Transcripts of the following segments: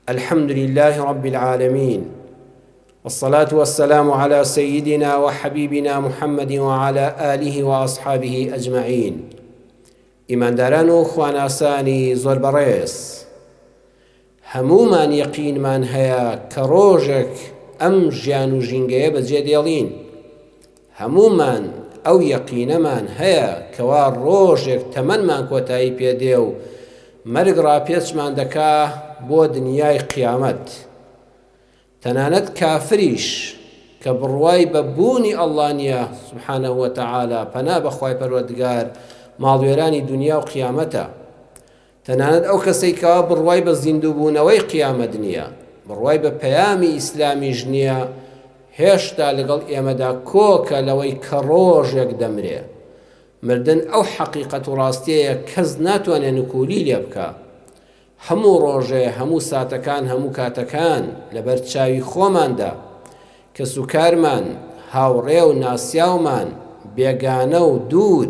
الحمد للە رب العالمین والصلاة والسلام علی سیدنا و حبیبنا محمد و علی آله و اصحابه اجمعین ئیمانداران و خواناسانی زۆر بەڕێز هەمومان یەقینمان هەیە کە ڕۆژێک ئەم ژیان و ژینگەیە بەجێ دێڵین هەموومان ئەو یەقینەمان هەیە کەوا ڕۆژێک تەمەنمان کۆتایی پێ دێ و مەرگ ڕاپێچمان دەکا بۆ دنیای قیامەت. تەنانەت کافریش کە بڕوای بە بوونی ئەڵڵا نیە سبحانە وتعالی پەنا بەخوای پەروەردگار ماڵوێرانی دنیا و قیامەتە. تەنانەت ئەو کەسەی کەوا بڕوای بە زیندووبوونەوەی قیامەت نییە، بڕوای بە پەیامی ئیسلامیش نییە، هێشتا لەگەڵ ئێمەدا کۆکە لەوەی کە ڕۆژێک دەمرێ. مردن ئەو حەقیقەت و ڕاستیەیە کەس ناتوانێ نکوولی لێ بکا. هەموو ڕۆژێ، هەموو ساتەکان، هەموو کاتەکان لەبەر چاوی خۆماندا. کەسوکارمان، هاوڕێ و ناسیاومان، بێگانە و دوور،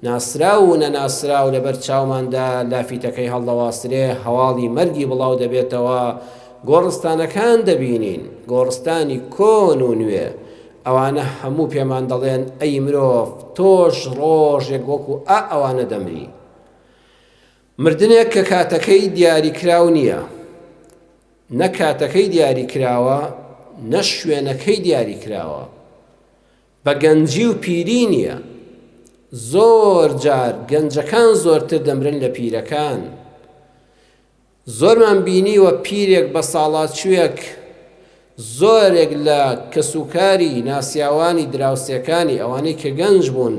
ناسراو و نەناسراو لەبەر چاوماندا لافیتەکەی هەڵدەواسرێ، هەواڵی مەرگی بڵاو دەبێتەوە، گۆڕستانەکان دەبینین، گۆڕستانی کۆن و نوێ، ئەوانە هەموو پێمان دەڵێن ئەی مرۆڤ تۆش ڕۆژێک وەکو ئا ئەوانە دەمری. مردنێک کە کاتەکەی دیاریکراو نییە، نە کاتەکەی دیاریکراوە نە شوێنەکەی دیاریکراوە، بە گەنجی و پیری نییە، زۆر جار گەنجەکان زۆرتر دەمرن لە پیرەکان، زۆرمان بینیوە پیرێک بەساڵاچووێک زۆرێک لە کەسوکاری ناسیاوانی دراوسێکانی ئەوانەی کە گەنج بوون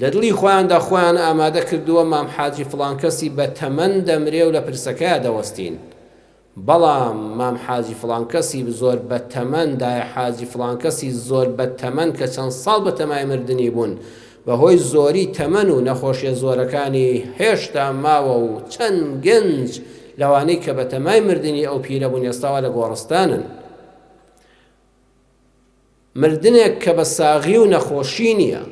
لە دڵی خۆیاندا خۆیان ئامادە کردووە مام حاجی فڵان کەسی بە تەمەن دەمرێ و لە پرسەکەیا دەوەستین بەڵام مام حاجی فڵان کەسی زۆر بە تەمەن دایە حاجی فڵان کەسی زۆر بە تەمەن کە چەند ساڵ بە تەمای مردنی بوون بەهۆی زۆری تەمەن و نەخۆشیە زۆرەکانی هێشتا ماوە و چەند گەنج لەوانەی کە بەتەمای مردنی ئەو پیرە بوون ئێستاوا لە گۆڕستانن مردنێک کە بە ساغی و نەخۆشی نییە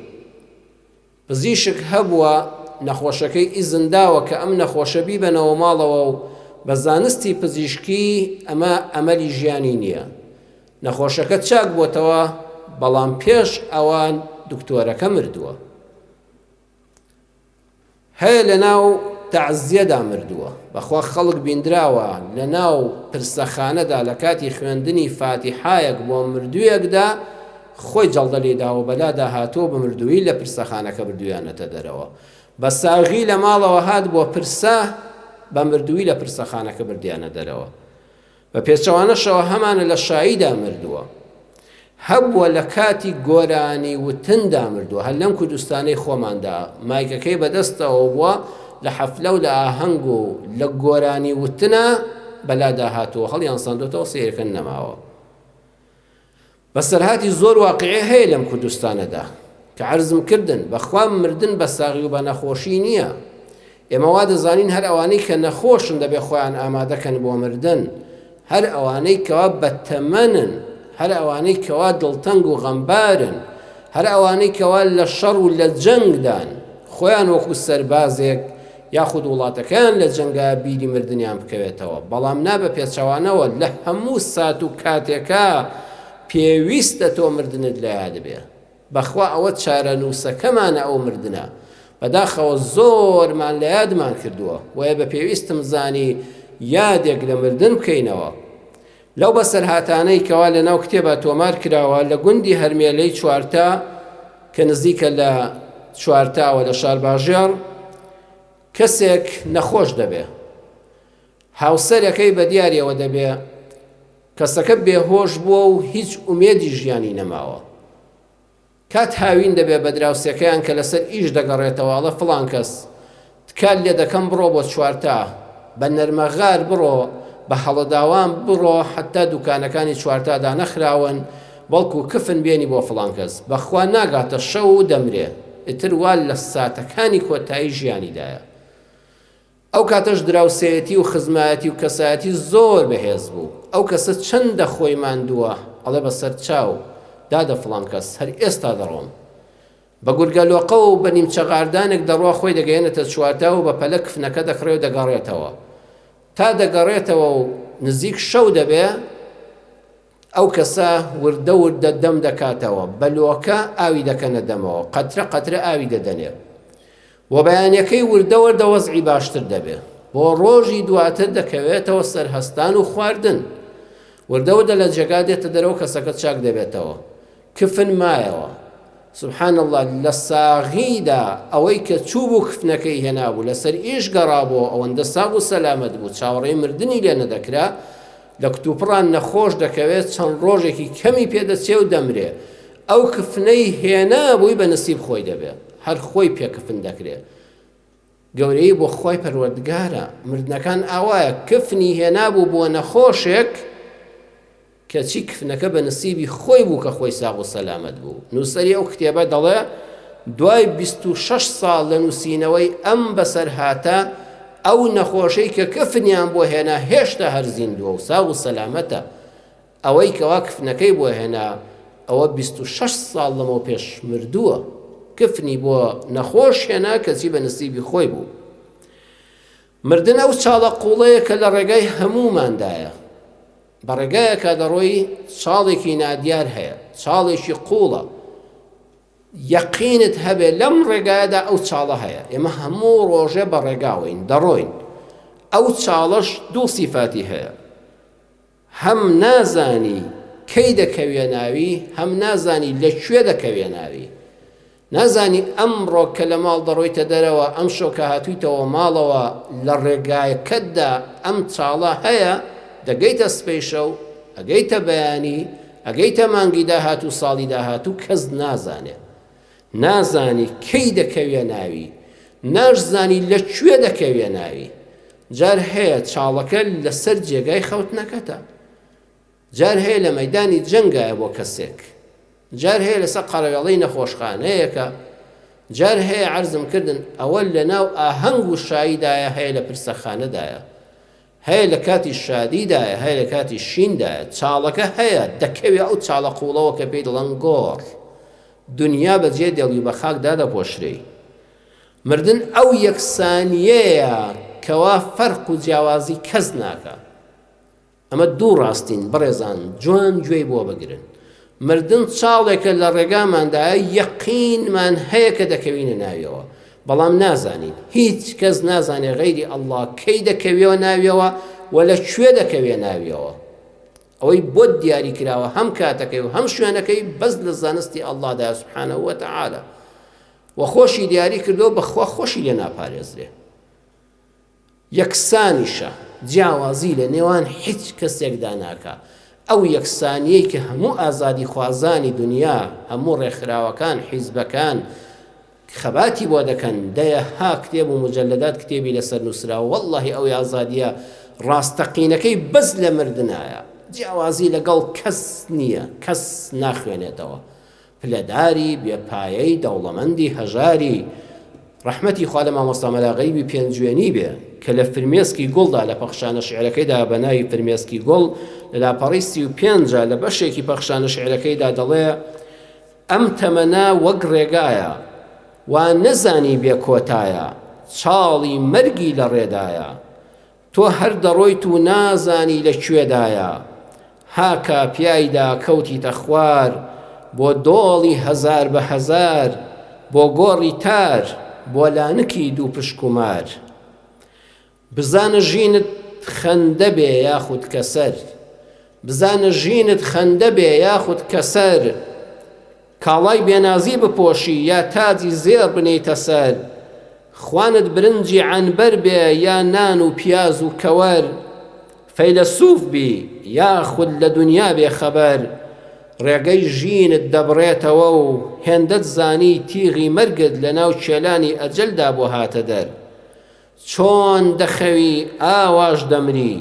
پزیشک هەبووە نەخۆشەکەی ئیزن داوە کە ئەم نەخۆشە بیبەنەوە ماڵەوە و بە زانستی پزیشکی ئەمە ئەمەلی ژیانی نییە نەخۆشەکە چاک بۆتەوە بەڵام پێش ئەوان دکتۆرەکە مردووە هەیە لەناو تەعزیەدا مردووە بەخوا خەڵک بیندراوە لەناو پرسەخانەدا لە کاتی خوێندنی فاتیحایەک بۆ مردوویەکدا خۆی جەڵدە لێداوە بەلادا هاتووە بە مردووی لە پرسەخانەکە بردویانەتە دەرەوە بە ساغی لە ماڵەوە هات بۆ پرسە بە مردووی لە پرسەخانەکە بردیانە دەرەوە بە پێچەوانەشەوە هەمانە لە شاییدا مردووە. هەبووە لە کاتی گۆرانی وتندا مردووە، هەر لەم کوردستانەی خۆماندا مایکەکەی بەدەستەوە بووە لە حەفلە و لە ئاهەنگ و لە گۆرانی وتنا بەلادا هاتووە هەڵیانساندۆتەوە سەیرکەن نەماوە. بەسەرهاتی زۆر واقیعی هەیە لەم کوردستانەدا کە عەرزم کردن بەخوا مردن بە ساغی و بە نەخۆشی نییە ئێمە وا دەزانین هەر ئەوانەی کە نەخۆشن دەبێ خۆیان ئامادەکەن بۆ مردن هەر ئەوانەی کەوا بەتەمەنن هەر ئەوانەی کەوا دڵتەنگ و غەمبارن هەر ئەوانەی کەوا لە شەڕ و لە جەنگدان خۆیان وەکو سەربازێک یاخود وڵاتەکەیان لە جەنگا بیری مردنیان بکەوێتەوە، بەڵام نا بە پێچەوانەوە لە هەموو سات و کاتێکا پێویستە تۆ مردنت لە یاد بێ، بەخوا ئەوە چارەنووسەکەمانە ئەو مردنە، بەداخەوە زۆرمان لە یادمان کردووە، بۆیە بە پێویستم زانی یادێک لە مردن بکەینەوە، لەو بەسەرهاتانەی کەوا لە ناو کتێبا تۆمار کراوە لە گوندی هەرمێلەی چوارتا کە نزیکە لە چوارتاوە لە شارباژێڕ کەسێک نەخۆش دەبێ هاوسەرەکەی بە دیارەوە دەبێ کەسەکە بێهۆش بووە و هیچ ئومێدی ژیانی نەماوە کات هاوین دەبێ بە دراوسێکەیان کە لەسەر ئیش دەگەڕێتەوە ئەڵێ فڵان کەس تکات لێ دەکەم بڕۆ بۆ چوارتا بە نەرمەغار بڕۆ بە هەڵەداوان بڕۆ حەتتا دوکانەکانی چوارتا دانەخراون بەڵکو کفن بێنی بۆ فڵان کەس بەخوا ناگاتە شەو و دەمرێ ئیتر وا لە ساتەکانی کۆتایی ژیانیدایە ئەو کاتەش دراوسێیەتی و خزمایەتی و کەسایەتی زۆر بەهێز بوو ئەو کەسە چەندە خۆی ماندووە ئەڵێ بە سەرچاو دادە فڵان کەس هەر ئێستا دەڕۆم بە گورگە لۆقە و بە نیمچە غاردانێک دەڕوا خۆی دەگەیەنێتە چوارتا و بە پەلە کفنەکە دەکڕێ و دەگەڕێتەوە تا دەگەڕێتەوە و نزیک شەو دەبێ ئەو کەسە وردە وردە دەم دەکاتەوە، بە لۆکە ئاوی دەکەنە دەمەوە، قەترە قەترە ئاوی دەدەنێ و بەیانیەکەی وردە وردە وەزعی باشتر دەبێ. بۆ ڕۆژی دواتر دەکەوێتەوە سەر هەستان و خواردن. وردە وردە لە جێگا دێتە دەرەوە کەسەکە چاک دەبێتەوە. کفن مایەوە. سبحان اللە لە ساغیدا ئەوەی کە چوو بوو کفنەکەی هێنابوو لەسەر ئیش گەڕابوو ئەوەندە ساغ و سەلامەت بوو چاوەڕێی مردنی لێ نەدەکرا لە کوتوپڕان نەخۆش دەکەوێ چەند ڕۆژێکی کەمی پێ دەچێ و دەمرێ ئەو کفنەی هێنابووی بە نسیب خۆی دەبێ هەر خۆی پێ کفن دەکرێ گەورەی بۆ خۆی پەروەردگارە مردنەکان ئاوایە کفنی هێنابوو بۆ نەخۆشێک کەچی کفنەکە بە نسیبی خۆی بوو کە خۆی ساغ و سەلامەت بوو نووسری ئەو کتێبە دەڵێ دوای 26 ساڵ لە نووسینەوەی ئەم بەسەرهاتە ئەو نەخۆشەی کە کفنیان بۆ هێنا هێشتا هەر زیندووە و ساغ و سەلامەتە، ئەوەی کەوا کفنەکەی بۆ هێنا ئەوە بیست و شەش ساڵ لەمەوپێش مردووە، کفنی بۆ نەخۆش هێنا کەچی بە نسیبی خۆی بوو. مردن ئەو چاڵە قوڵەیە کە لە ڕێگای هەمووماندایە، بە ڕێگایەکا دەڕۆی چاڵێکی نادیار هەیە، چاڵێکی قوڵە، یەقینت هەبێ لەم ڕێگایەدا ئەو چاڵە هەیە ئێمە هەموو ڕۆژێ بە ڕێگاوەین دەڕۆین ئەو چاڵەش دوو سیفاتی هەیە هەم نازانی کەی دەکەوێ ناوی هەم نازانی لە کوێ دەکەوێ ناوی نازانی ئەم ڕۆکە لە ماڵ دەڕۆیتە دەرەوە ئەم شۆکە هاتوویتەوە ماڵەوە لە ڕێگایەکەتدا ئەم چاڵە هەیە دەگەیتە سپیشە و ئەگەیتە بەیانی ئەگەیتە مانگی داهاتوو ساڵی داهاتوو کەس نازانێ نازانی کەی دەکەوێ ناوی ناش زانی لە کوێ دەکەوێ ناوی جار هەیە چاڵەکە لەسەر جێگای خەوتنەکەتە جار هەیە لە مەدانی جەنگایە بۆ کەسێک جار هەیە لەسەر قەرەوێڵەی نەخۆشخانەیەکە جار هەیە عرضم کردن ئەوە لە ناو ئاهەنگ و شایدایە هەیە لە پرسەخانەدایە هەیە لە کاتی شادیدایە هەیە لە کاتی شیندایە چاڵەکە هەیە دەکەوێ ئەو چاڵە قوڵەوە کە پێی دەڵێن گۆڕ دونیا بە جێ دێڵی بە خاک دادەپۆشرێی مردن ئەو یەکسانیەیە کەوا فەرق و جیاوازی کەس ناکە ئەمە دوو ڕاستین بەڕێزان جوان گوێی بۆ بگرن مردن چاڵێکە لە ڕێگاماندایە، یەقینمان هەیە کە دەکەوینە ناویەوە، بەڵام نازانین، هیچ کەس نازانێت غەیری اللە کەی دەکەوێوە ناویەوە و لە کوێ دەکەوێ ناویەوە، ئەوەی بۆت دیاری کراوە هەم کاتەکەی و هەم شوێنەکەی بەس لە زانستی اللە دایە سبحانە وتعالی و خۆشی دیاری کردووە بەخوا خۆشی لێ ناپارێزرێ. یەکسانیشە، جیاوازی لە نێوان هیچ کەسێکدا ناکا، ئەو یەکسانییەی کە هەموو ئازادیخوازانی دنیا، هەموو ڕێکخراوەکان، حیزبەکان خەباتی بۆ دەکەن، دەیەها کتێب و موجەلەدات کتێبی لەسەر نووسراوە، وەڵڵاهی ئەوی ئازادییە ڕاستەقینەکەی بەس لە مردنایە، جیاوازی لەگەڵ کەس نییە، کەس ناخوێنێتەوە، پلەداری بێ پایەی دەوڵەمەندی هەژاری ڕەحمەتی خوا لە مامۆستا مەلا غەیبی پێنجوێنی بێ کە لە فرمێسکی گوڵدا لە پەخشانە شعرەکەیدا بە ناوی فرمێسکی گوڵ لە لاپەڕی سی و پێنجە لە بەشێکی پەخشانە شعرەکەیدا دەڵێ ئەم تەمەنا وەک ڕێگایە وا نەزانی بێ کۆتایە چاڵی مەرگی لە ڕێدایە تۆ هەر دەڕۆیت و نازانی لە کوێدایە هاکا پیایدا کەوتیتە خوار بۆ دۆڵی هەزار بە هەزار بۆ گۆڕی تار بۆ لانکی دوو پشک و مار بزانە ژینت خەندە بێ یاخود کەسەر بزانە ژینت خەندە بێ یاخود کەسەر کاڵای بێنازی بپۆشی یا تاجی زێڕ بنێیتە سەر خوانت برنجی عەنبەر بێ یا نان و پیاز و کەوەر فەیلەسوف بی یاخود لە دونیا بێ خەبەر ڕێگەی ژینت دەبڕێتەوە و هێندەت زانی تیغی مەرگت لەناو کێلانی ئەجەلدا بۆ هاتە دەر چۆن دەخەوی ئاواش دەمری،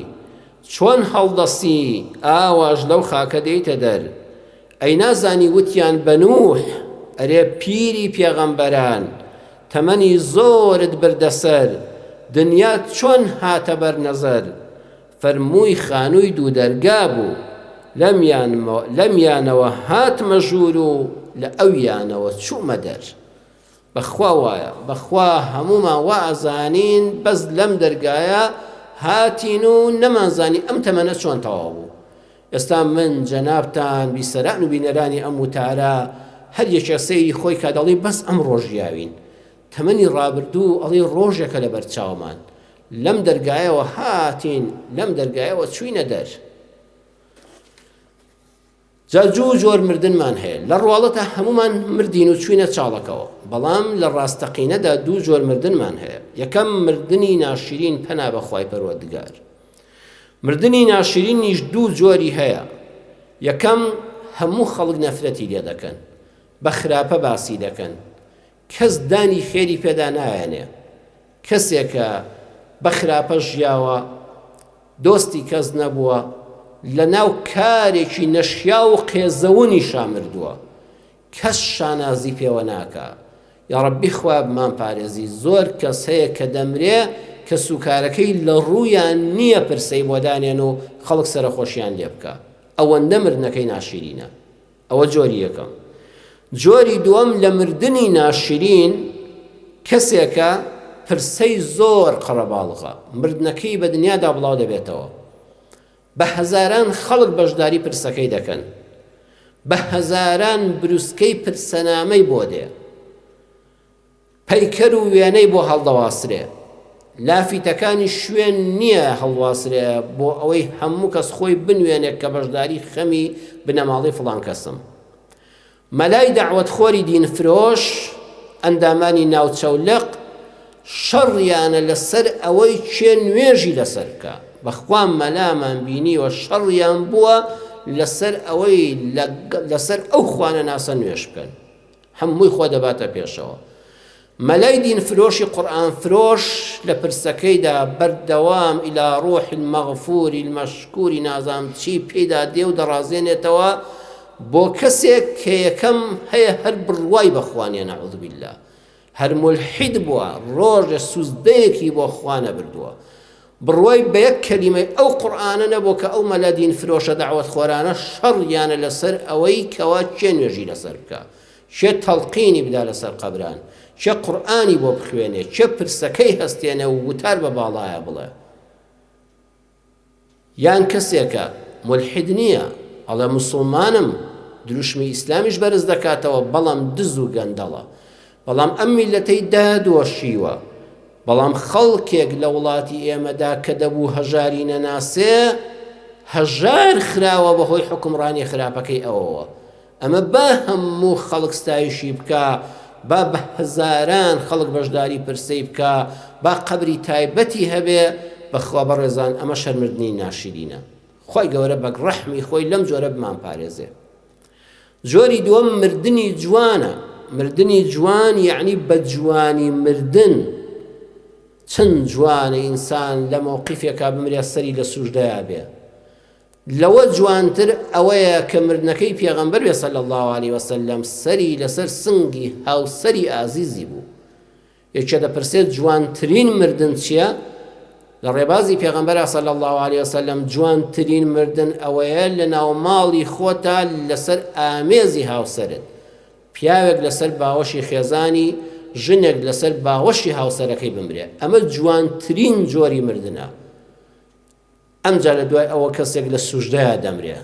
چۆن هەڵدەستی ئاواش لەو خاکە دێیتە دەر، ئەی نازانی وتیان بە نوح، ئەرێ پیری پێغەمبەران، تەمەنی زۆرت بردە سەر، دنیات چۆن هاتە بەر نەزەر، فەرمووی خانووی دوو دەرگا بوو، لەمیانەوە هاتمە ژوور و لە ئەویانەوە چوومە دەر. بەخوا وایە بەخوا هەموومان وا ئەزانین بەس لەم دەرگایە هاتین و نەمان زانی ئەم تەمەنە چۆن تەواو بوو ئێستا من جەنابتان بیسەران و بینەرانی ئەم وتارە هەر یەکێ سەیری خۆی کا دەڵی بەس ئەم ڕۆژیاوین تەمەنی ڕابردوو ئەڵی ڕۆژێکە لە بەرچاومان لەم دەرگایەوە هاتین لەم دەرگایەوە چوینە دەر جا جوو جۆر مردنمان هەیە لە ڕواڵەتە هەمومان مردین و چوینە چاڵەکەوە بەڵام لە ڕاستەقینەدا دوو جۆر مردنمان هەیە یەکەم مردنی ناشرین پەنا بەخوای پەروەردگار مردنی ناشرینیش دوو جۆری هەیە یەکەم هەموو خەڵک نەفرەتی لێ دەکەن بە خراپە باسی دەکەن کەس دانی خێری پێدا نایەنێ کەسێکە بە خراپە ژیاوە دۆستی کەس نەبووە لە ناو کارێکی نەشیا و قێزەونی شامردووە کەس شانازی پێوە ناکە یاڕبی خوابمان پارێزی زۆر کەس هەیە کە دەمرێ کە سوکارەکەی لە ڕوویان نییە پرسەی بۆدانێن و خەڵک سەرخۆشیان لێ بکە ئەوەندە مردنەکەی ناشیرینە ئەوە جۆری یەکەم. جۆری دووەم لە مردنی ناشرین کەسێکە پرسەی زۆر قەرەباڵغە، مردنەکەی بە دنیادا بڵاو دەبێتەوە. بە هەزاران خەڵک بەشداری پرسەکەی دەکەن. بە هەزاران بروسکەی پرسەنامەی بۆ دێ. پەیکەر و وێنەی بۆ هەڵدەواسرێ، لافیتەکانیش شوێن نییە هەڵواسرێ بۆ ئەوەی هەموو کەس خۆی بنوێنێ کە بەشداری خەمی بنەماڵەی فڵان کەسم. مەلای دەعوەتخۆری دینفرۆش، ئەندامانی ناوچە و لق، شەڕیانە لە سەر ئەوەی کێ نوێژی لە سەر بکا. بە خوا مەلامان بینیوە شەڕیان بووە لە سەر ئەوەی لە سەر ئەو خوانەناسە نوێژ بکەن. هەمووی خۆ دەباتە پێشەوە. مەلای دین فرۆشی قورئان فرۆش لە پرسەکەیدا بەردەوام الی روح المغفور المشکور نازام چی پێیدا دێ و دەڕازێنێتەوە بۆ کەسێک کە یەکەم هەیە هەر بڕوای بەخوا نیە نعوذ باللە هەر مولحید بووە ڕۆژێ سوزدەیەکی بۆ خوا نەبردووە بڕوای بە یەک کەلیمەی ئەو قورئانە نەبوو کە ئەو مەلا دین فرۆشە دەعوەت خۆرانە شەڕیانە لەسەر ئەوەی کەوا کێ نوێژی لەسەر بکا کێ تەڵقینی بدا لەسەر قەبران کێ قورئانی بۆ بخوێنێ کێ پرسەکەی هەستێنێ و وتار بە باڵایە بڵێ یان کەسێکە ملحد نییە ئەڵێ مسلمانم دروشمی ئیسلامیش بەرز دەکاتەوە بەڵام دز و گەندەڵە بەڵام ئەم میللەتەی دادۆشیوە، بەڵام خەڵکێک لە وڵاتی ئێمەدا کە دەبوو هەژاری نەناسێ، هەژار خراوە بە هۆی حوکمڕانی خراپەکەی ئەوەوە. ئەمە با هەموو خەڵک ستایشی بکا، با بە هەزاران خەڵک بەشداری پرسەی بکا، با قەبری تایبەتی هەبێ، بەخوا بەڕێزان ئەمە شەرمردنی ناشرینە. خوای گەورە بەگ ڕەحمی خۆی لەم جۆرە بمانپارێزێ. جۆری دووەم مردنی جوانە، مردنی جوان یەعنی بە جوانی مردن، چەند جوانە ئینسان لە مەوقیفێکا بمرێ سەری لە سوژدەیا بێ، لەوە جوانتر ئەوەیە کە مردنەکەی پێغەمبەر بێ صلی اللە علیە وسلم سەری لەسەر سنگی هاوسەری ئازیزی بوو، یەکێ دەپرسێت جوانترین مردن چیە؟ لە ڕێبازی پێغەمبەرا صلی اللە علیه وسلم جوانترین مردن ئەوەیە لە ناو ماڵی خۆتا لەسەر ئامێزی هاوسەرت پیاوێک لەسەر باوەشی خێزانی ژنێک لەسەر باوەشی هاوسەرەکەی بمرێ ئەمە جوانترین جۆری مردنە ئەمجا لە دوای ئەوە کەسێک لە سوژدەیا دەمرێ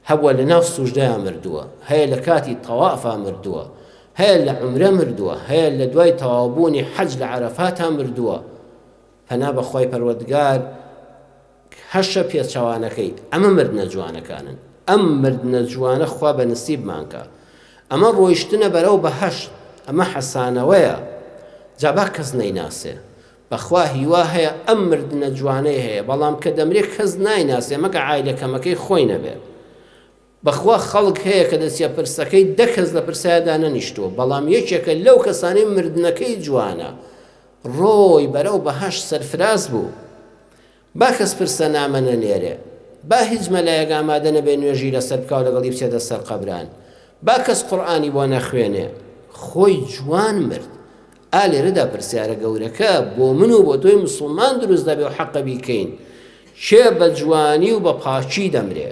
هەبوە لە ناو سوژدەیا مردووە هەیە لە کاتی تەوافا مردووە هەیە لە عمرە مردووە هەیە لە دوای تەواوبوونی حەج لە عەرەفاتا مردووە پەنا بەخوای پەروەردگار هەشە پێچەوانەکەی ئەمە مردنە جوانەکانن ئەم مردنە جوانە خوا بە نسیبمانکە ئەمە ڕۆیشتنە بەرەو بەهشت ئەمە حەسانەوەیە جابا کەس نەیناسێ بەخوا هیوا هەیە ئەم مردنە جوانەی هەیە بەڵام کە دەمرێ کەس نایناسێ مەگە عایلە کەمەکەی خۆی نەبێ بەخوا خەڵک هەیە کە دەچیە پرسەکەی دە کەس لە پرسایدا نەنیشتووە بەڵام یەکێکە لەو کەسانەی مردنەکەی جوانە ڕۆی بەرەو بەهەشت سەرفراز بوو با کەس پرسە نامە نەنێرێ، با هیچ مەلایەک ئامادە نەبێ نوێژی لەسەر بکا و لەگەڵی بچێتە سەر قەبران، با کەس قورئانی بۆ نەخوێنێ، خۆی جوان مرد. ئا لێرەدا پرسیارە گەورەکە بۆ من و بۆ تۆی موسڵمان دروست دەبێ و حەقە بیکەین، کێ بە جوانی و بە پاکی دەمرێ؟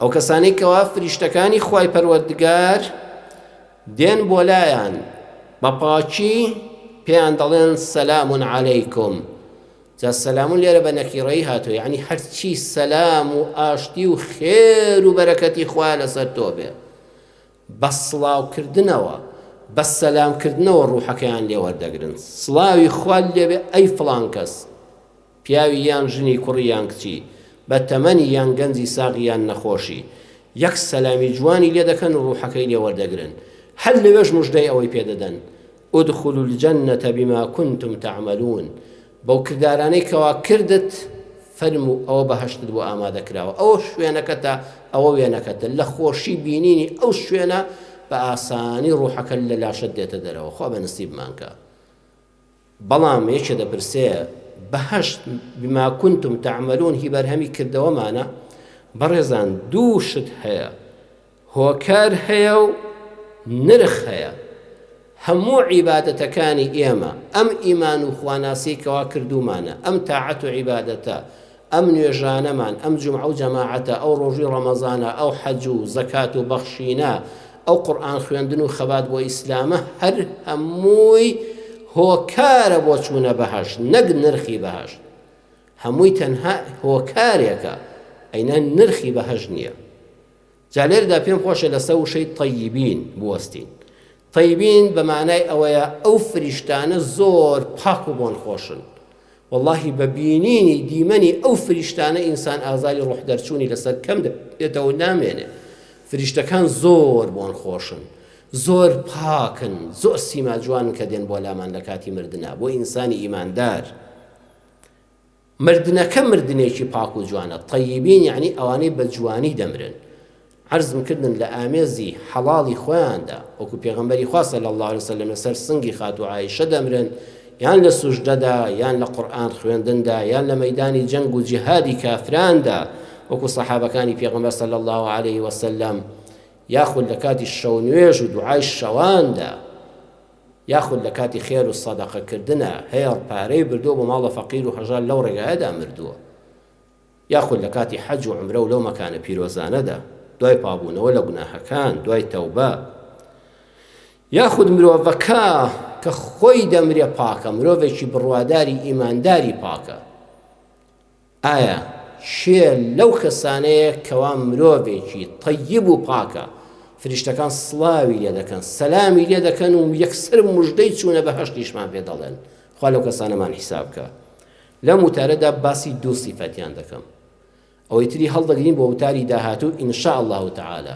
ئەو کەسانەی کەوا فریشتەکانی خوای پەروەردگار دێن بۆ لایان بە پاچی پێیان دەڵێن سەلام عەلەیکم جا سەلام لێرە بە نەکیڕەی هاتو یعنی هەرچی سەلام و ئاشتی و خێر و بەرەکەتی خوا لەسەر تۆ بێ بە سڵاوکردنەوە بە سەلامکردنەوە ڕوحەکەیان لێوەردەگرن سڵاوی خوال لێبێ ئەی فلان کەس پیاوی یان ژنی کوڕی یان کچی بە تەمەنی یان گەنجی ساغ یان نەخۆشی یەک سەلامی جوانی لێ دەکەن و ڕوحەکەی لێ وەردەگرن هەر لەوێش موژدەی ئەوەی پێ دەدەن ادخلوا الجنە بما کنتم تعملون بەو کردارانەی کەوا کردت فەرموو ئەوە بەهەشتت بۆ ئامادە کراوە ئەوە شوێنەکەتە ئەوە وێنەکەتە لە خۆشی بینینی ئەو شوێنە بە ئاسانی ڕوحەکە لە لاشەت دێتە دەرەوە خوا بە نسیبمانکە بەڵام یەکێ دەپرسێ، بەهەشت، بما کنتم تعملون، هی بەرهەمی کردەوەمانە؟ بەڕێزان دوو شت هەیە، هۆکار هەیە و نرخ هەیە. هەموو عیبادەتەکانی ئێمە، ئەم ئیمان و خواناسیەی کەوا کردوومانە، ئەم تاعەت و عیبادەتە، ئەم نوێژانەمان، ئەم جومعە و جەماعەتە، ئەو ڕۆژووی ڕەمەزانە، ئەو حەج و زەکات و بەخشینە، ئەو قورئان خوێندن و خەبات بۆ ئیسلامە، هەر هەمووی هۆکارە بۆ چوونە بەهەشت، نەک نرخی بەهەشت. هەمووی تەنها هۆکارێکە، ئەی نە نرخی بەهەشت نییە. جا لێرەدا پێم خۆشە لەسە وشەی طیبین بوەستین طیبین بەمانای ئەوەیە ئەو فریشتانە زۆر پاک و بۆن خۆشن واللهی بە بینینی دیمەنی ئەو فریشتانە ئینسان ئازاری ڕۆح دەرچوونی لەسەر کەم دێتەوە نامێنێ فریشتەکان زۆر بۆن خۆشن زۆر پاکن زۆر سیما جوان کە دێن بۆ لامان لە کاتی مردنا بۆ ئینسانی ئیماندار مردنەکە مردنێکی پاک و جوانە، طیبین یەعنی ئەوانەی بە جوانی دەمرن عەرزم کردن لە ئامێزی حەڵاڵی خۆیاندا وەکو پێغەمبەری خوا صلی اللە علیە وسلم لەسەر سنگی خاتوو عائیشە دەمرن یان لە سوژدەدا یان لە قورئان خوێندندا یان لە مەیدانی جەنگ و جیهادی کافراندا وەکو سەحابەکانی پێغەمبەر صلی اللە علیه وسلم یاخود لە کاتی شەو نوێژ و دوعای شەواندا یاخود لە کاتی خێر و سەدەقە کردنا هێڕ پارەی بردووە بۆ ماڵە فەقیر و هەژار لەو ڕێگایەدا مردووە یاخود لە کاتی حەج و عمرە و لەو مەکانە پیرۆزانەدا دوای پابوونەوە لە گوناهەکان دوای تەوبە یاخود مرۆڤەکە کە خۆی دەمرێ پاکە مرۆڤێکی بڕواداری ئیمانداری پاکە ئایا کێ لەو کەسانەیە کەوا مرۆڤێکی تەیب و پاکە، فریشتەکان سڵاوی لێ دەکەن، سەلامی لێ دەکەن و یەکسەر موژدەی چوونە بەهەشتیشمان پێ دەڵێن، خوا لەو کەسانەمان حیساب بکا. لەم وتارەدا باسی دوو سیفەتیان دەکەم. ئەوەی تری هەڵدەگرین بۆ وتاری داهاتوو ان شاء اللە تعالی.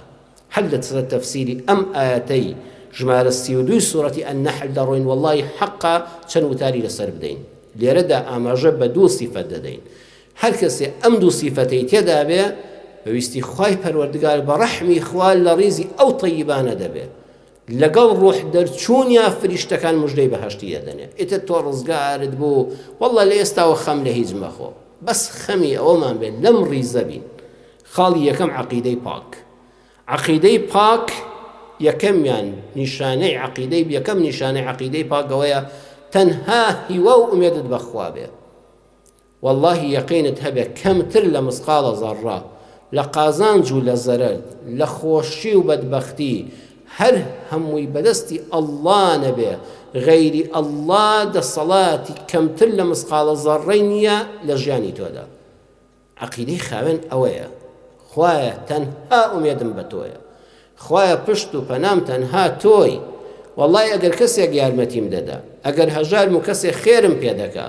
هەر لە سەر تەفسیری ئەم ئایەتەی ژمارە سی و دووی سورەتی النحل دەڕۆین وەڵڵاهی حەقە چەند وتاری لەسەر بدەین لێرەدا ئاماژە بە دوو سیفەت دەدەین هەر کەسێ ئەم دوو سیفەتەی تێدا بێ بە ویستی خوای پەروەردگار بە ڕەحمی خوا لە ڕیزی ئەو طەیبانە دەبێ لەگەڵ ڕۆح دەرچوونیا فریشتەکان مژدەی بەهەشتی دەدەنێ ئیتر تۆ ڕزگارت بوو وەڵڵا لە ئێستاوە خەم لە هیچ مەخۆ بەس خەمی ئەوەمان بێت لەم ڕیزە بین خاڵی یەکەم عەقیدەی پاک عەقیدەی پاک یەکەمیان نیشانەی عەقیدەی یەکەم نیشانەی عەقیدەی پاک ئەوەیە تەنها هیوا و ئومێدت بەخوا بێ واللهی یەقینت هەبێ کەمتر لە مسقاڵە زەڕڕە لە قازانج و لە زەرەر لە خۆشی و بەدبەختی هەر هەمووی بەدەستی ئەللا نەبێ غەیری ئەللا دەسەڵاتی کەمتر لە مسقاڵە زەڕڕەی نییە لە ژیانی تۆدا عەقیدەی خاوێن ئەوەیە، خوایە تەنها ئومێدم بە تۆیە، خوایە پشت و پەنام تەنها تۆی، وەڵڵای ئەگەر کەسێک یارمەتیم دەدا، ئەگەر هەژارم و کەسێک خێرم پێ دەکا،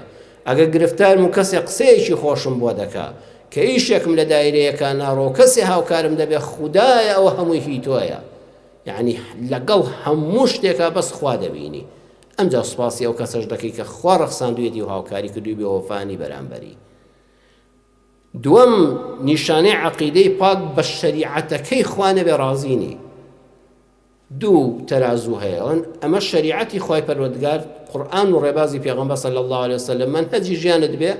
ئەگەر گرفتارم و کەسێک قسەیەکی خۆشم بۆ دەکا، کە ئیشێکم لە دایرەیەکا ناڕوا و کەسێ هاوکارم دەبێ، خودایە ئەوە هەمووی هی تۆیە، یەعنی لەگەڵ هەموو شتێکا بەس خوا دەبینی، ئەمجا سوپاسی ئەو کەسەش دەکەی کە خوا ڕەخساندوویەتی و هاوکاری کردووی بێوەفانی بەرامبەری. دووەم نیشانەی عەقیدەی پاک بە شەریعەتەکەی خوا نەبێ ڕازی نی دوو تەرازوو هەیەن ئەمە شەریعەتی خوای پەروەردگار قورآن و ڕێبازی پێغەمبەر صلی الله عليه وسلم من هەجی ژیانت بێ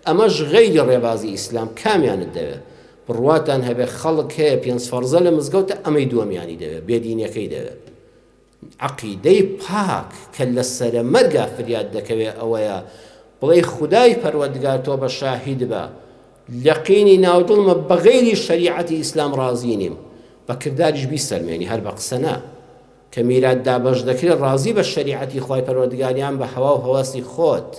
ئەمەش غەیری ڕێبازی ئیسلام کامیانت دەوێت بڕواتان هەبێ خەڵک هەیە پێنج فەرزە لە مزگەوتە ئەمەی دووەمیانی دەوێت بێدینەکەی دەوێت عەقیدەی پاک کە لە سەرە مەرگا فریات دەکەوێ ئەوەیە بڵێی خودای پەروەردگار تۆ بە شاهید بە لە قینی ناو دڵمە بە غەیری شەریعەتی ئیسلام ڕازی نیم بە کرداریش بیسەلمێنی هەر بە قسە نا کە میرات دابەش دەکرێ ڕازی بە شەریعەتی خوای پەروەردگار یان بە هەوا و هەواسی خۆت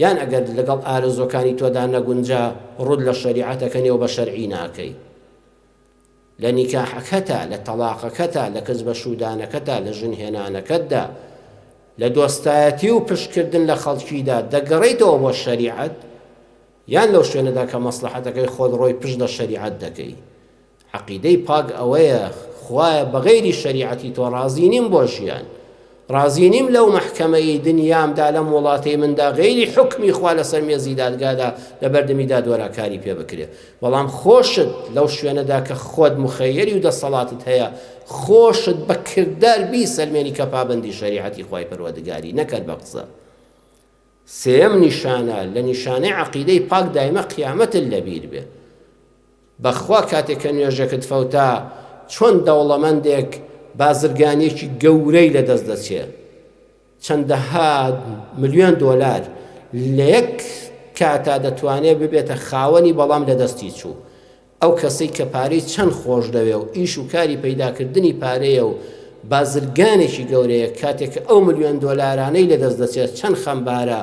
یان ئەگەر لەگەڵ ئارەزوەکانی تۆدا نەگونجا ڕوود لە شەریعەتەکە نێو بە شەرعی ناکەی لە نیکاحەکەتا، لە تەڵاقەکەتا، لە کز بەشوودانەکەتا، لە ژن هێنانەکەتدا، لە دۆستایەتی و پشت کردن لە خەڵکیدا، دەگەڕێیتەوە بۆ شەریعەت، یان لەو شوێنەدا کە مەسڵەحەتەکەی خۆت ڕۆی پشت لە شەریعەت دەکەی؟ عەقیدەی پاک ئەوەیە، خوایە بەغەیری شەریعەتی تۆ ڕازی نیم بۆ ژیان، ڕازی نیم لەو مەحکەمەیەی دنیامدا لەم وڵاتەی مندا غەیری حوکمی خوا لەسەر مێزی دادگادا لە بەردەمی دادوەرا کاری پێ بکرێ بەڵام خۆشت لەو شوێنەدا کە خۆت مخەیەری و دەسەڵاتت هەیە خۆشت بە کردار بیسەلمێنی کە پابەندی شەریعەتی خوای پەروەردگاری نەکەر بە قسە سێیەم نیشانە لە نیشانەی عەقیدەی پاک دایمە قیامەتت لە بیر بێ بەخوا کاتێ کە نوێژەکت فەوتا چۆن دەوڵەمەندێک بازرگانیەکی گەورەی لە دەست دەچێ چەندەها ملیۆن دۆلار لە یەک کاتا دەتوانێ ببێتە خاوەنی بەڵام لە دەستی چوو ئەو کەسەی کە پارەی چەند خۆشدەوێ و ئیش و کاری پەیداکردنی پارەیە و بازرگانێکی گەورەیە کاتێ کە ئەو ملیۆن دۆلارانەی لەدەست دەچێت چەند خەمبارە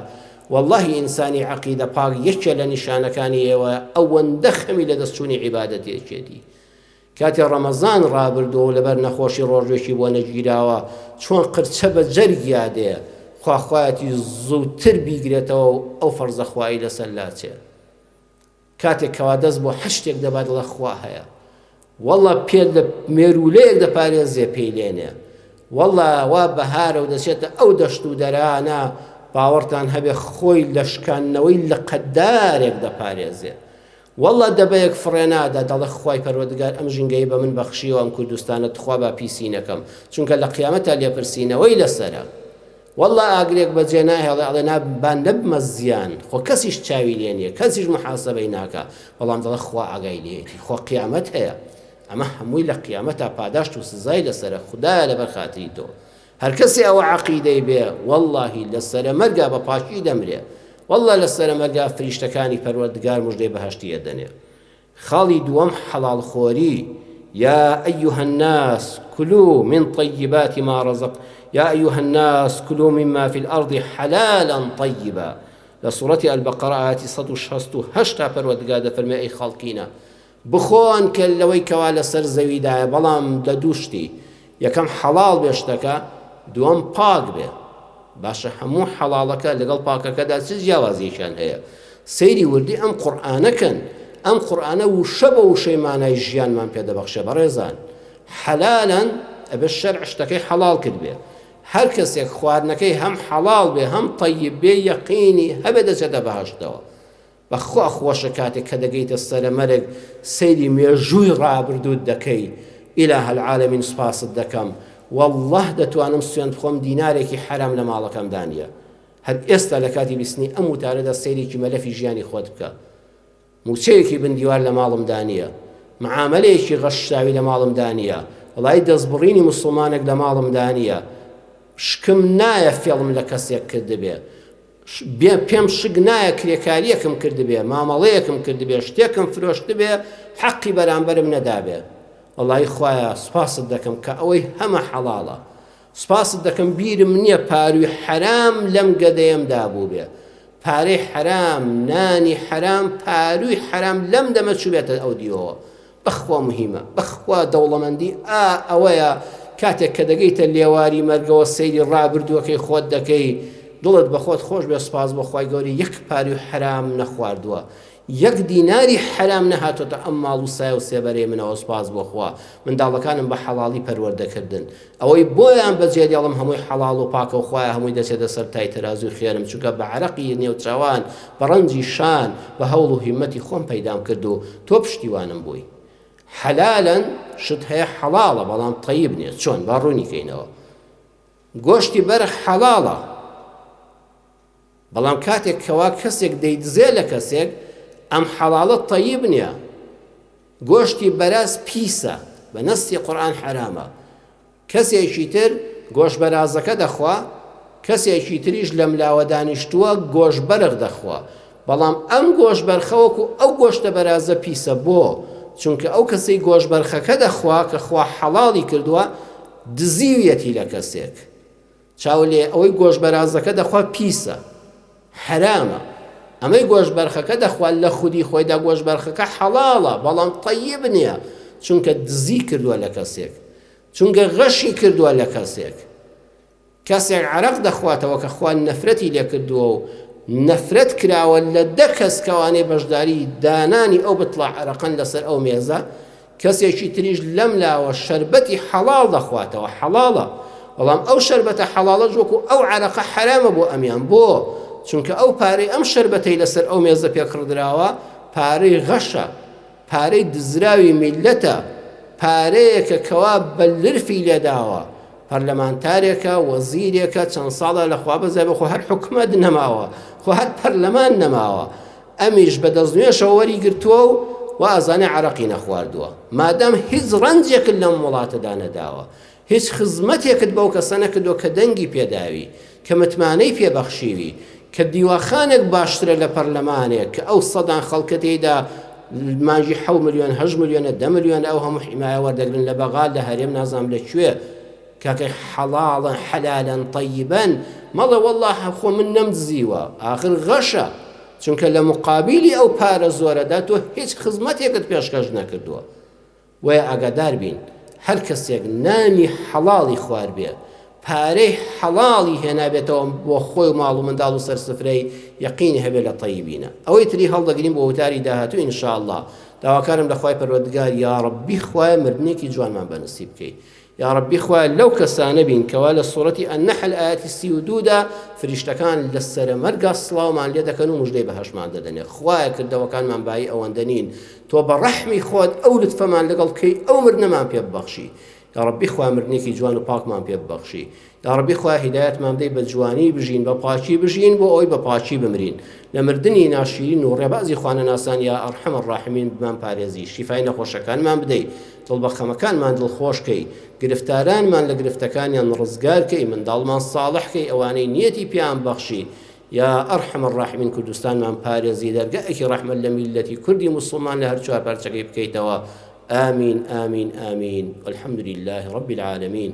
وەڵاهی ئینسانی عەقیدە پاک یەکێ لە نیشانەکانی ئێوەیە ئەوەندە خەمی لەدەست چوونی عیبادەتێکێتی کاتێ ڕەمەزان ڕابردووە و لەبەر نەخۆشی ڕۆژێکی بۆ نەگیراوە چۆن قرچە بە جەرگیا دێ خواخوایەتی زووتر بیگرێتەوە و ئەو فەرزەخوایی لەسەر لاچێ کاتێک کەوا دەست بۆ هەر شتێک دەبات دەڵێ خوا هەیە وەڵا پێت لە مێروولەیەک دەپارێزێ پێی لێنێ وەڵا وا بەهارە و دەچێتە ئەو دەشت و دەرانە باوەڕتان هەبێ خۆی لە شکاندنەوەی لە قەدارێک دەپارێزێ وەڵا دەبەیەک فڕێنادا دەڵێ خی پەروەردگار ئەم ژینگەی بە من بەخشیەوە ئەم کوردستانە تخوا با پیسی نەکەم چونکە لە قیامەتە لێپرسینەوەی لەسرە وەڵڵا ئاگرێک بە جێ ناهێڵێ ئەڵێ نا با نەبمە زیان خۆ کەسیش چاوی لێ نیە کەسیش محاسەبەی ناکا بەڵام دەڵێ خوا ئاگای لێیەتی خۆ قیامەت هەیە ئەمە هەمووی لە قیامەتا پاداشت و سزای لەسەرە خودایە لەبەر خاتری تۆ هەر کەسێ ئەوە عەقیدەی بێ وەڵڵاهی لە سەرە مەرگا بە پاکی دەمرێ وەڵڵا لە سەرە مەرگا فریشتەکانی پەروەردگار مژدەی بەهەشتی ئەدەنێ خاڵی دووەم حەڵاڵ خۆری، یا ایها الناس کلوا من طیبات ما رزق یا ایها الناس کلوا مما فی الارض حلالا طیبا لە سوڕەتی البقرە ئاەتی 1668 تا پەروەردگار دەفەرمێ ئەی خەڵکینە بخۆن کە لەوەی کەوا لەسەر زەویدایە بەڵام لە دوو شتی یەکەم حەڵاڵ بێ شتەکە دووەم پاک بێ باشە هەموو حەڵاڵەکە لەگەڵ پاکەکەدا چ جیاوازیەکیان هەیە سەیری وردی ئەم قورآانەکەن ئەم قورآانە وشە بە وشەی مانای ژیانمان پێ دەبەخشێ بەڕێزان حەلالەن ئەبێ شەر شتەکەی حەڵال کرد بێ هەر کەسێک خواردنەکەی هەم حەڵال بێ هەم طیب بێ یەقینی هەبێ دەچێتە بەهشتەوە بەخوا خۆشە کاتێک کە دەگەیتە سەرە مەرگ سەیری مێژووی ڕابردووت دەکەی الە العالمین سوپاست دەکەم واللە دەتوانم سوێند بخۆم دینارێکی حەرام لە ماڵەکەمدا نیە هەر ئێستا لە کاتی بیستنی ئەم وتارەدا سەیرێکی مەلەفی ژیانی خۆت بکە موچەیەکی بندیوار لە ماڵمدا نیە معاملەیەکی غەششاوی لە ماڵمدا نیە وڵای دەستبڕینی مسلمانێک لە ماڵمدا نیە شکم نایە فێڵم لە کەسێک کردبێ پێم شک نایە کرێکارییەکم کردبێ، مامەڵەیەکم کردبێ، شتێکم فرۆشتبێ، حەقی بەرامبەرم نەدابێ. وەڵایی خوایە سوپاست دەکەم کە ئەوەی هەمە حەڵاڵە. سوپاست دەکەم بیرم نییە پارووی حەرام لەم گەدەیەمدا بووبێ. پارەی حەرام، نانی حەرام، پارووی حەرام لەم دەمە چووبێتە ئەو دیوەوە. بەخوا مهیمە بەخوا دەوڵەمەندی ئا ئەوەیە کاتێک کە دەگەیتە لێواری مەرگەوە سەیری ڕابردووەکەی خۆت دەکەی دڵت بەخۆت خۆش بێ سپاس بۆ خی گەوری یەک پاری و حرام نەخواردووە یەک دیناری حرام نەهاتۆتە ئەم ماڵ و سای و سێبەرەی منەوە سپاس بۆخوا منداڵەکانم بە حەڵاڵی پەروەردەکردن ئەوەی بۆیان بەجێ دێڵم هەمووی حەڵاڵ و پاکە و خوایە هەمووی دەچێتە سەر تای تەرازووی خێرم چونکە بە عەرەقی نێوچەوان بە ڕەنجی شان بە هەوڵ و هیمەتی خۆم پەیدام کرد و تۆ پشتیوانم بووی حەلالەن شت هەیە حەڵاڵە بەڵام طەیب نییە چۆن با ڕوونی کەینەوە گۆشتی بەرخ حەڵاڵە بەڵام کاتێک کەوا کەسێک دەیدزێ لە کەسێک ئەم حەڵاڵە تەیب نیە گۆشتی بەراز پیسە بە نەستی قورئان حەرامە کەسێکی تر گۆش بەرازەکە دەخوا کەسێکی تریش لەم لاوە دانیشتووە گۆش بەرغ دەخوا بەڵام ئەم گۆش بەرخەوەکو ئەو گۆشتە بەرازە پیسە بۆ چونکە ئەو کەسەی گۆش بەرخەکە دەخوا کە خوا حەڵاڵی کردووە دزیویەتی لە کەسێک چاو لێ ئەوەی گۆشت بەرازەکە دەخوا پیسە حەرامە ئەمەی گۆشت بەرخەکە دەخوا لە خودی خۆیدا گۆشت بەرخەکە حەڵاڵە بەڵام طیب نییە چونکە دزی کردووە لە کەسێک چونکە غەشی کردووە لە کەسێک کەسێک عرق دەخواتەوە کە خوان نەفرەتی لێکردووە و نەفرەت کراوە لە دە کەس کەوانەی بەشداری دانانی ئەو بتڵە عرقەن لەسەر ئەو مێزە کەسێکی تریش لەم لاوە شەربەتی حەڵاڵ دەخواتەوە، حەڵاڵە، بەڵام ئەو شەربەتە حەڵاڵەش وەکو ئەو عەرەقە حەرامە بۆ ئەمیان، بۆ؟ چونکە ئەو پارەی ئەم شەربەتەی لەسەر ئەو مێزە پێ کڕدراوە پارەی غەشە، پارەی دزراوی میللەتە، پارەیەکە کەوا بە لرفی لێداوە، پەرلەمانتارێکە، وەزیرێکە، چەند ساڵە لە خوابەزیابێ خۆ هەر حکومەت نەماوە، خۆ هەر پەرلەمان نەماوە، ئەمیش بە دەستنوێژەوە وەری گرتووە و وائەزانێ عەرەقی نەخواردووە. مادام هیچ ڕەنجێکت لەم وڵاتەدا نەداوە، هیچ خزمەتێکت بەو کەسە نەکردووە کە دەنگی پێ داوی، کە متمانەی پێ بەخشیوی، کە دیواخانێک باشترە لە پەرلەمانێک کە ئەو سەدان خەڵکە تێیدا مانگی حەوت ملیۆن، هەشت ملیۆنە، دە ملیۆنە ئەو هەموو حیمایە وەردەگرن لە بەغا، لە هەرێم نازانم لە کوێ. کاکە حەڵاڵە حەلالە طەیبە مەڵێ وەڵا خۆ من نەمدزیوە ئاخر غەشە چونکە لە مقابیلی ئەو پارە زۆرەدا تۆ هیچ خزمەتێکت پێشکەش نەکردووە وەیە ئاگادار بین هەر کەسێک نانی حەڵاڵی خوار بێ پارەی حەڵاڵی هێنابێتەوە بۆ خۆی و ماڵ و منداڵ و سەرسفرەی یەقینی هەبێت لە طەیبینە ئەوەی تری هەڵدەگرین بۆ وتاری داهاتوو ئینشاءله داواکارم لەخوای پەروەردگار یاڕبی خوای مردنێکی جوانمان بەنسیب بکەیت یاڕەبی خوایە لەو کەسانە بین کەوا لە سورەتی النحل ئایەتی سی و دوو دا فریشتەکان لە سەرە مەرگا سڵاومان لێ دەکەن و مژدەی بەهەشمان دەدەنێ خوایە کردەوەکانمان بایی ئەوەندە نین تۆ بە ڕەحمی خۆت ئەو لطفەمان لەگەڵ بکەی ئەو مردنەمان پێ ببەخشی یاڕەبی خوا مردنێکی جوان و پاکمان پێ ببەخشی یاڕەبی خوا هیدایەتمان بدەی بە جوانی بژین بە پاکی بژین بۆ ئەوی بە پاکی بمرین لە مردنی ناشیرین و ڕێبازی خوانەناسان یا ئەڕحەمە ڕاحمین بمان پارێزی شیفای نەخۆشەکانمان بدەی دڵ بە خەمەکانمان دڵخۆشکەی گرفتارانمان لە گرفتەکانیان ڕزگارکەی منداڵمان ساڵحکەی ئەوانەی نیەتی پیان بەخشی یا ئەڕحەمە ڕاحمین کوردستانمان پارێزی دەرگەئەکی ڕەحمەت لە میلەتی کوردی موسڵمان لە هەر چوار پارچەکەی بکەیتەوە آمین آمین آمین الحمد لله رب العالمین